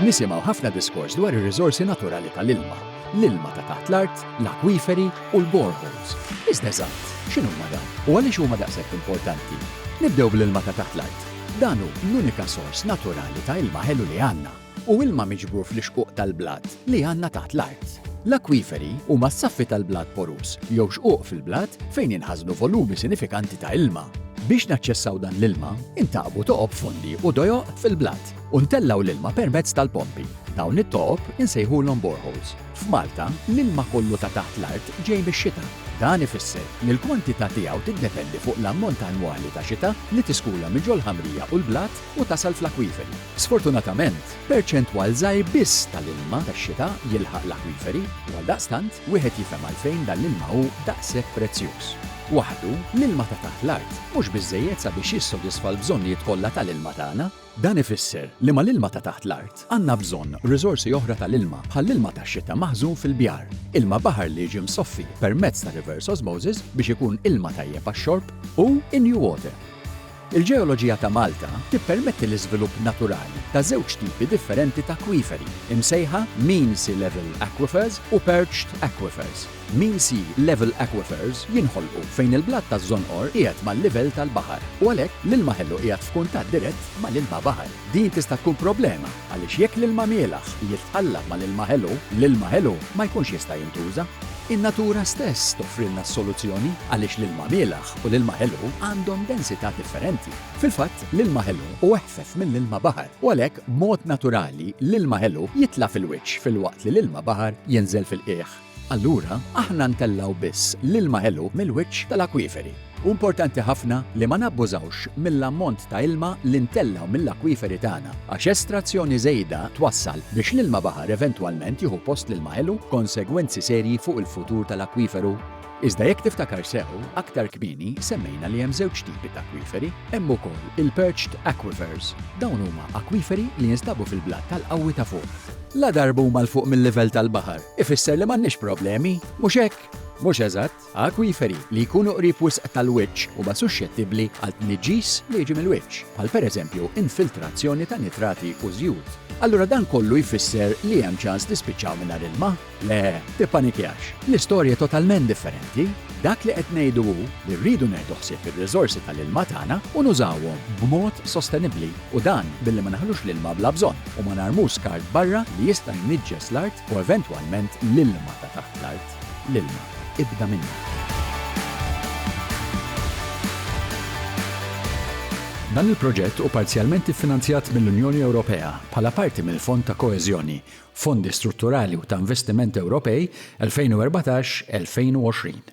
Nisimgħu ħafna diskors dwar ir-riżorsi naturali tal-ilma, l-ilma ta' taħt l-art, l-akwiferi u l-boreholes. Iżda eżatt, x'inhuma dawn u għaliex huma daqshekk importanti? Nibdew bl-ilma ta' taħt l-art. Dan hu l-unika sors naturali ta' ilma ħelu li għandna. Hu ilma miġbur fl-ixquq tal-blat li għandna taħt l-art. L-akwiferi huma s-saffi tal-blat poruż jew xquq fil-blat fejn jinħażnu volumi sinifikanti ta' ilma. Biex naċċessaw dan l-ilma, intaqbu toqob fondi u dojoq fil-blat. u ntellgħu l-ilma permezz tal-pompi. Dawn it-toqob insejħulhom boreholes. F'Malta, l-ilma kollu ta' taħt l-art ġej mix-xita. Dan ifisser li l-kwantità tiegħu tiddependi fuq l-ammont annwali ta' xita li tiskula minn ġol-ħamrija u l-blat u tasal fl-akwiferi. Sfortunatament, perċentwal żgħir biss tal-ilma tax-xita jilħaq l-akwiferi. Għaldaqstant, wieħed jifhem għalfejn dan l-ilma hu daqshekk prezzjuż. Waħdu, l-ilma ta' taħt l-art mhux biżżejjed sabiex jissodisfa l-bżonnijiet kollha tal-ilma tagħna. Dan ifisser li mal-ilma ta' taħt l-art għandna bżonn riżorsi oħra tal-ilma bħall-ilma tax-xita maħżun fil-bjar, ilma baħar li jiġi msoffi permezz ta' reverse osmosis biex ikun ilma tajjeb għax-xorb, u in-new water. Il-ġeoloġija ta' Malta tippermetti l-iżvilupp naturali ta' żewġ tipi differenti ta' akwiferi, imsejħa mean sea level aquifers u perched aquifers. Mean sea level aquifers jinħolqu fejn il-blat taż-żonqor qiegħed mal-livell tal-baħar u għalhekk l-ilma ħelu qiegħed f'kuntatt dirett mal-ilma baħar. Din tista' tkun problema għaliex jekk l-ilma mielaħ jitqallab mal-ilma ħelu, l-ilma ħelu ma jkunx jista' jintuża. In-natura stess toffrilna s-soluzzjoni għaliex l-ilma mielaħ u l-ilma ħelu għandhom densità differenti. Fil-fatt, l-ilma ħelu hu eħfef mill-ilma baħar u għalhekk b'mod naturali l-ilma ħelu jitla' fil-wiċċ filwaqt li l-ilma baħar jinżel fil-qiegħ. Allura, aħna ntellgħu biss l-ilma ħelu mill-wiċċ tal-akwiferi. Hu importanti ħafna li ma nabbużawx mill-ammont ta' ilma li ntellgħu mill-akwiferi tagħna għax estrazzjoni żejda twassal biex l-ilma baħar eventwalment jieħu post l-ilma ħelu b'konsegwenzi serji fuq il-futur tal-akwiferu. Iżda jekk tiftakar sew, aktar kmieni semmejna li hemm żewġ tipi t'akwiferi. Hemm ukoll il-perched aquifers. Dawn huma akwiferi li jinstabu fil-blat tal-qawwi ta' fuq. Ladarba huma 'l fuq mil-livell tal-baħar, ifisser li m'għandniex problemi, mhux hekk? Mhux eżatt. Akwiferi li jkunu qrib wisq tal-wiċċ huma suxxettibbli għal tniġġis li jiġi mill-wiċċ, bħal pereżempju infiltrazzjoni ta' nitrati u żjut. Allura dan kollu jfisser li hemm ċans li spiċċaw mingħajr ilma? Le, tippanikjax. L-istorja hi totalment differenti. Dak li qed ngħidu hu li rridu neħdu ħsieb ir-riżorsi tal-ilma tagħna u nużawhom b'mod sostenibbli u dan billi ma naħlux l-ilma bla bżonn u ma narmux skart barra li jista' jniġġes l-art u eventwalment l-ilma ta' taħt l-art. L-ilma, ibda minnu. Dan il-proġett hu parzjalment iffinanzjat mill-Unjoni Ewropea bħala parti mill-Fond ta' Koeżjoni Fondi Strutturali u ta' Investiment Ewropej 2014-2020.